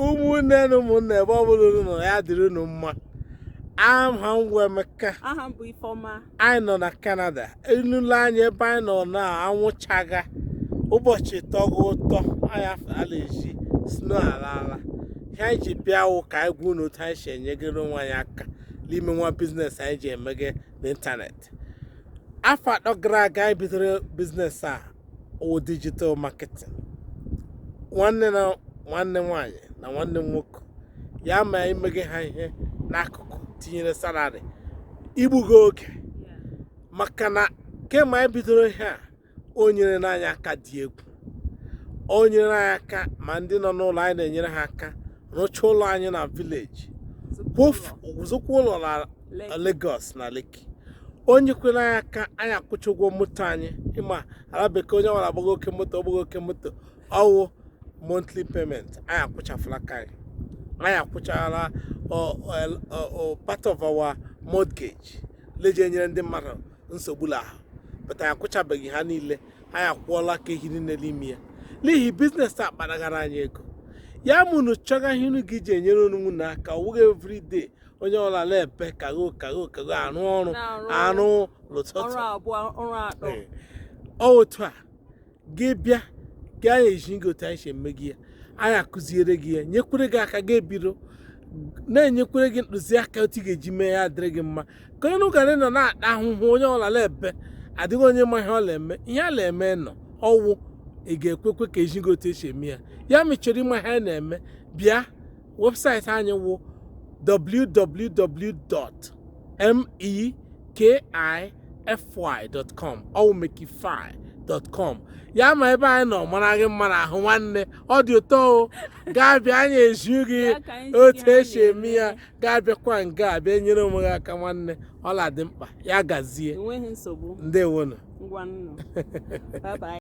ụmụnne na ụmụnna ebe ọ bụla unu nọ ya dịrị unu mma aha m bụ Emeka aha m bụ Ifeọma anyị nọ na Canada unu lee anya ebe anyị nọ na anwụ chaga ụbọchị tọga ụtọ anyị ala eji snow ala ala ihe anyị ji bịa wụ ka anyị gwa unu otu anyị si enyegara onwe anyị aka n'ime nwa business anyị ji emege n'ịntanetị afọ atọ gara aga anyị bidoro business a ọ wụ digital marketing nwanne nwanyị na nwanne nwoke ya ma i meghe ha ihe n'akụkụ tinyere salary i gbuga oge maka na kemgbe anyị bidoro ihe a o nyerena anyị aka dị egwu o nyere anyị aka ma ndị nọ n'ụlọ anyị na-enyere ha aka rụchaa ụlọ anyị na village zụkwa ụlọ na Lagos na Lekki o nyekwere anyị aka anyị akwụcha ụgwọ moto anyị ị ma ala bekee onye ọla gbaga oke moto ọ wụ monthly payment anyị akwụchafụla nke anyị anyị akwụchala part of our mortgage le ji enyere ndị mmadụ nsogbu l'ahụ but anyị akwụchabeghị ha niile anyị akwụọla nke hiri nne n'ime ya n'ihi business a kparagara anyị ego ya ma unu chọga ihe unu ga-eji enyere onwe unu aka ọ wụghị everyday onye ọla na-ebe kago kago kago arụ ọrụ arụ l'ụtụtụ ọ otu a gị bịa gị anyị ezi gị otu anyị si emege ya anyị akụziere gị ya nyekwere gị aka gị ebido na-enyekwere gị ntụziaka otu ị ga-eji mee ya dịrị gị mma ka unu ghara ịnọ na-ata ahụhụ onye ọla na-ebe adịghị onye ma ihe ọ na-eme ihe a na-eme nọ ọ wụ ị ga-ekwekwe ka e zi gị otu e si eme ya ya ma ị chọrọ ịma ihe a na-eme bịa webụsaịtị anyị wụ www.mekify.com ọ wụ mekify.com ya ma ebe anyị nọ mara gị mma n'ahụ nwanne ọ dị ụtọ o gaa bịa anyị ezi gị otu e si eme ya gaa bịakwa nga a bịa nyere onwe gị aka nwanne ọla dị mkpa ya gazie enweghị nsogbu ndewonu ngwanụ bye bye